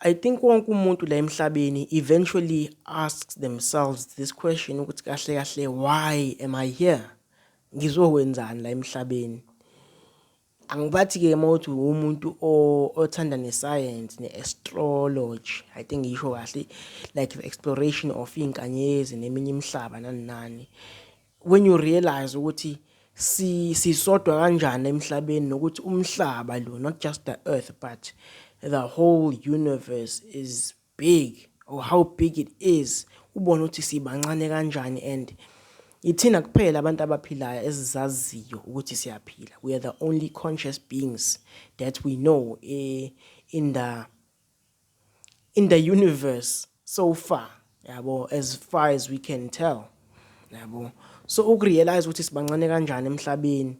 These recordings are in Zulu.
I think wonke umuntu la emhlabeni eventually asks themselves this question ukuthi kahle kahle why am I here? Ngizokwenzani la emhlabeni? Angibathi ke mawuthi umuntu othanda nescience ne-astrology, I think ngisho kahle like the exploration of inkanyezi neminye imihlaba nani nani. when you realize ukuthi si sisodwa kanjani emhlabeni nokuthi umhlaba lo not just the earth but the whole universe is big or how big it is ubona ukuthi sibancane kanjani and ithina kuphela abantu abaphilayo esizaziyo ukuthi siyaphila we are the only conscious beings that we know eh, in the in the universe so far yabo as far as we can tell yabo so ukurealize ukuthi sibancane kanjani emhlabeni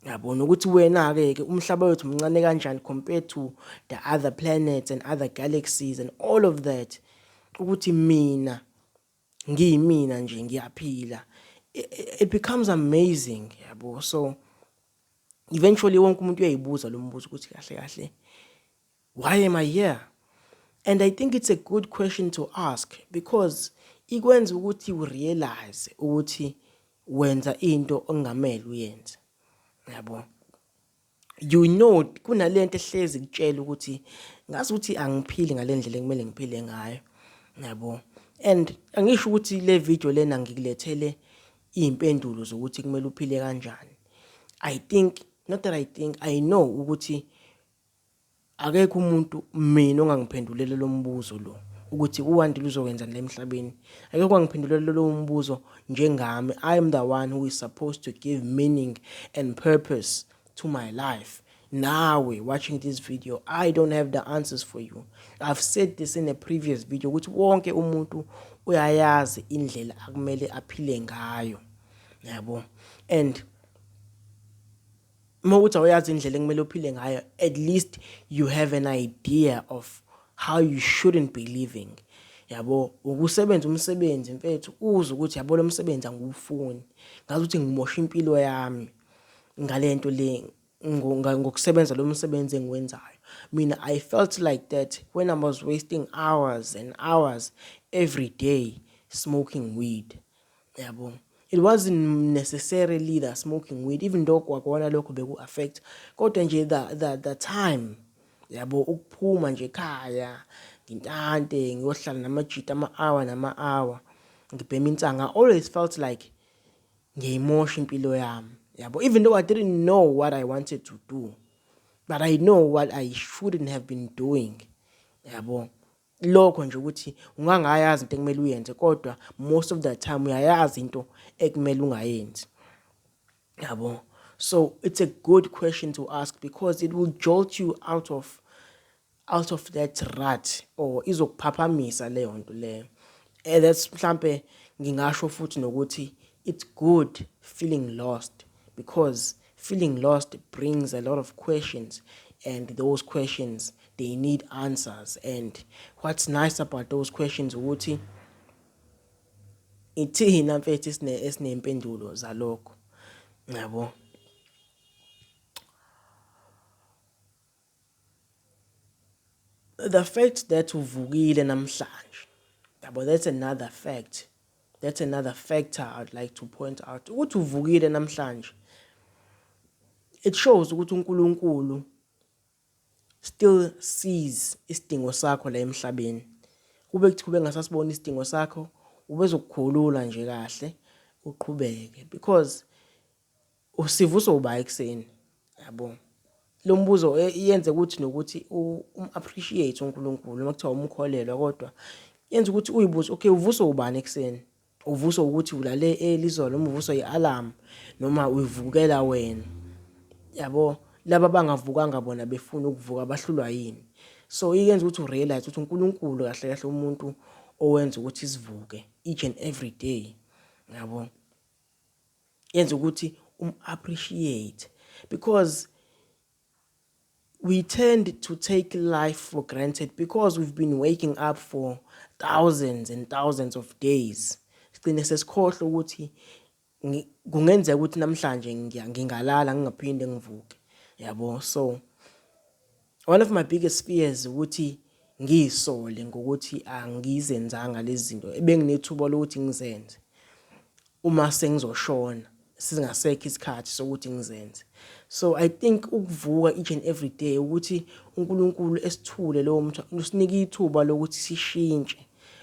yabo nokuthi wena ke ke umhlaba wethu mncane kanjani compared to the other planets and other galaxies and all of that ukuthi mina ngiyimina nje ngiyaphila it becomes amazing yabo so eventually wonke umuntu uyayibuza lo mbuzo ukuthi kahle kahle Why am I here? And I think it's a good question to ask because ikwenza ukuthi u realize ukuthi wenza into ongamele uyenze. Yabo. You know kunalento ehlezi kutshela ukuthi ngazi ukuthi angiphili ngalendlela ekumele ngiphile ngayo. Yabo. And angisho ukuthi le video lena ngikulethele impendulo zokuthi kumele uphile kanjani. I think not that I think I know ukuthi Akekho umuntu mina ongangiphendulele lo mbuzo lo ukuthi uWandile uzokwenzani la emhlabeni. Akekho ongangiphendulele lowo mbuzo njengami. I am the one who is supposed to give meaning and purpose to my life. Nawe watching this video, I don't have the answers for you. I've said this in a previous video ukuthi wonke umuntu uyayazi indlela akumele aphile ngayo. Yabo. And uma ukuthi awuyazi indlela ekumele uphile ngayo at least you have an idea of how you shouldn't be living yabo ukusebenza umsebenzi mfethu uze ukuthi yabo lo msebenzi angiwufuni ngazi ukuthi ngimosha impilo yami ngale nto le ngokusebenza lo msebenzi engiwenzayo mina i felt like that when i was wasting hours and hours every day smoking weed Yabo. It wasn't necessarily the smoking weed even though kwakona lokho beku affect kodwa nje the the the time yabo ukuphuma nje ekhaya ngintante ngiyohlala namajita ama hour nama hour ngibhema insanga always felt like ngiyayimosha impilo yami yabo even though I didn't know what I wanted to do but I know what I shouldn't have been doing yabo Lokho nje ukuthi ungangayazi into ekumele uyenze kodwa most of the time uyayazi into ekumele ungayenzi. Yabo. So it's a good question to ask because it will jolt you out of out of that rut or izokuphaphamisa leyo nto leyo. And that's mhlambe ngingasho futhi nokuthi it's good feeling lost because Feeling lost brings a lot of questions and those questions they need answers and what's nice about those questions ukuthi ithina mfethu esine esinempendulo zalokho ngiyabo the fact that uvukile namhlanje yabo that's another fact that's another factor i'd like to point out ukuthi uvukile namhlanje it shows ukuthi uNkulunkulu still sees isidingo sakho la emhlabeni kube kuthi kube ngasasibona isidingo sakho ubezokukhulula nje kahle uqhubeke because Usivuswa uba ekuseni yabo lo mbuzo e, yenze ukuthi nokuthi um-appreciate unkulunkulu uma kuthiwa umkholelwa kodwa yenza ukuthi uyibuze okay uvuswa ubani ekuseni uvuswa ukuthi ulale elizolo noma uvuswa i-alarm noma uyivukela wena yabo laba bangavukanga bona befuna ukuvuka bahlulwa yini so iyenza ukuthi urealize ukuthi unkulunkulu kahle kahle umuntu owenza ukuthi sivuke each and every day yabo yenza ukuthi um appreciate because we tend to take life for granted because we've been waking up for thousands and thousands of days sigcine sesikhohle ukuthi kungenzeka ukuthi namhlanje ngingalala ngingaphinde ngivuke yabo so One of my biggest fears ukuthi ngiyisole ngokuthi angizenzanga lezi zinto ebenginethuba lokuthi ngizenze uma sengizoshona singasekho isikhathi sokuthi ngizenze so i think ukuvuka each and every day ukuthi uNkulunkulu esithule lowo mthu usinike ithuba lokuthi sishintshe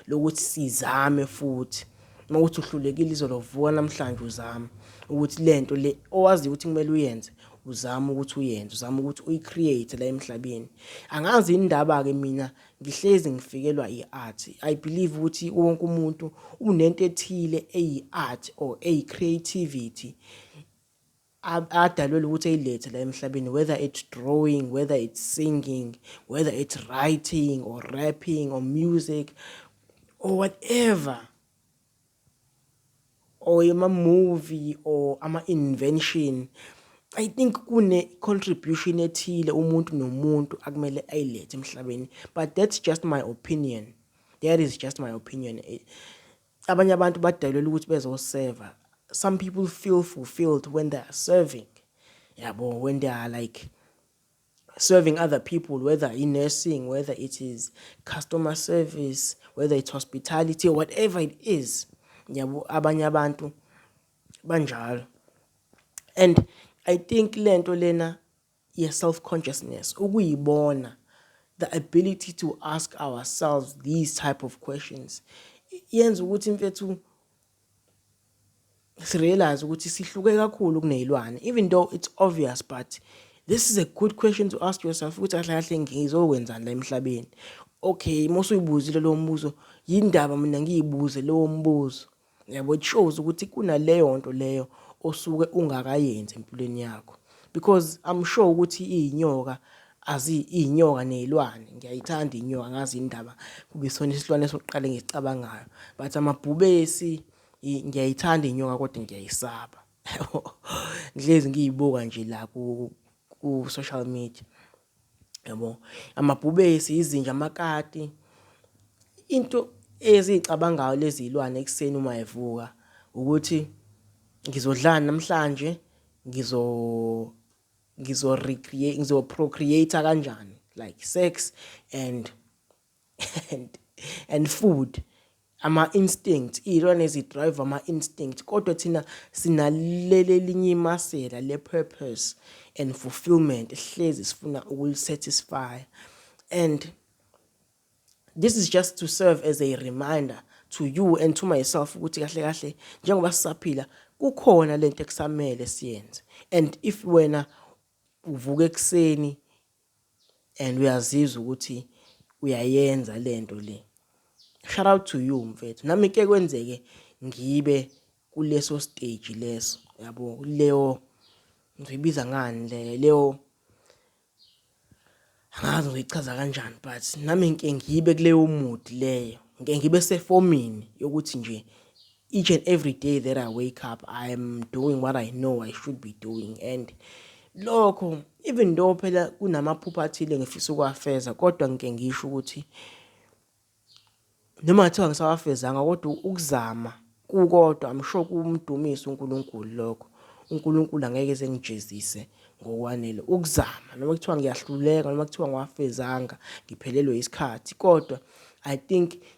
lokuthi sizame futhi uma ukuthi uhlulekile izolo vuka namhlanje uzame ukuthi lento le owazi ukuthi kumele uyenze uzame ukuthi uyenze uzame ukuthi uyicreate la emhlabeni angazi indaba ke mina ngihlezi ngifikelwa iart i believe ukuthi wonke umuntu unento ethile eyi art or eyi creativity adalwelwe ukuthi eyilethe la emhlabeni whether it's drawing whether it's singing whether it's writing or rapping or music or whatever or ama-movie or ama-invention i think kune-contribution ethile umuntu nomuntu akumele ayilethe emhlabeni but that's just my opinion that is just my opinion eh, abanye abantu badalelwe ukuthi bezoseva some people feel fulfilled when they are serving yabo when they are like serving other people whether in nursing whether it is customer service whether it's hospitality or whatever it is yabo abanye abantu banjalo and i think lento lena ye self consciousness ukuyibona the ability to ask ourselves these type of questions yenza ukuthi mfethu sirealize ukuthi sihluke kakhulu kunezilwane even though it's obvious but this is a good question to ask yourself ukuthi kahle kahle ngizokwenzani la emhlabeni okay mose uyibuzile lo mbuzo yindaba mina ngiyibuze lowo mbuzo Yabo it shows ukuthi kunaleyo nto leyo osuke ungakayenzi empilweni yakho because I'm sure ukuthi izinyoka azi izinyoka nezilwane ngiyayithanda inyoka ngazi indaba kube sona isilwane sokuqala ngisicabangayo but amabhubesi ngiyayithanda inyoka kodwa ngiyayisaba ngihlezi ngiyibuka nje la ku social media yabo amabhubesi izinja amakati into eziyicabangayo lezi zilwane ekuseni uma evuka ukuthi ngizodlani namhlanje ngizo ngizo recreate ngizo procreate kanjani like sex and and, and food ama-instinct iy'lwane zi-drive ama-instinct kodwa thina sinalelelinye imasela le-purpose and fulfillment hlezi sifuna ukulisatisfy and this is just to serve as a reminder to you and to myself ukuthi kahle kahle njengoba sisaphila kukhona lento ekusamele siyenze and if wena uvuka ekuseni and uyazizwa ukuthi uyayenza lento le shout out to you mfethu nami ke kwenzeke ngibe kuleso stage leso yabo leyo ngibiza ngani le leyo angazi ngichaza kanjani but nami ngike ngibe kuleyo mood leyo ngike ngibe sefomini yokuthi nje each and every day that I wake up, I'm doing what I know I should be doing. And lokho, even though phela kunamaphupha athile ngifisa ukuwafeza, kodwa ngike ngisho ukuthi noma ngathiwa ngisawafezanga kodwa ukuzama kukodwa I'm sure kumdumisa uNkulunkulu lokho. uNkulunkulu angeke ezengijezise ngokwanele ukuzama noma kuthiwa ngiyahluleka noma kuthiwa ngiwafezanga ngiphelelwe isikhathi kodwa I think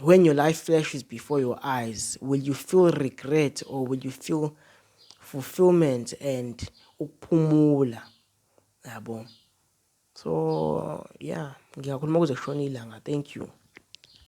when your life flashes before your eyes will you feel regret or will you feel fulfillment and ukuphumula yabo so yeah ngiyakhuluma kuze kushona ilanga thank you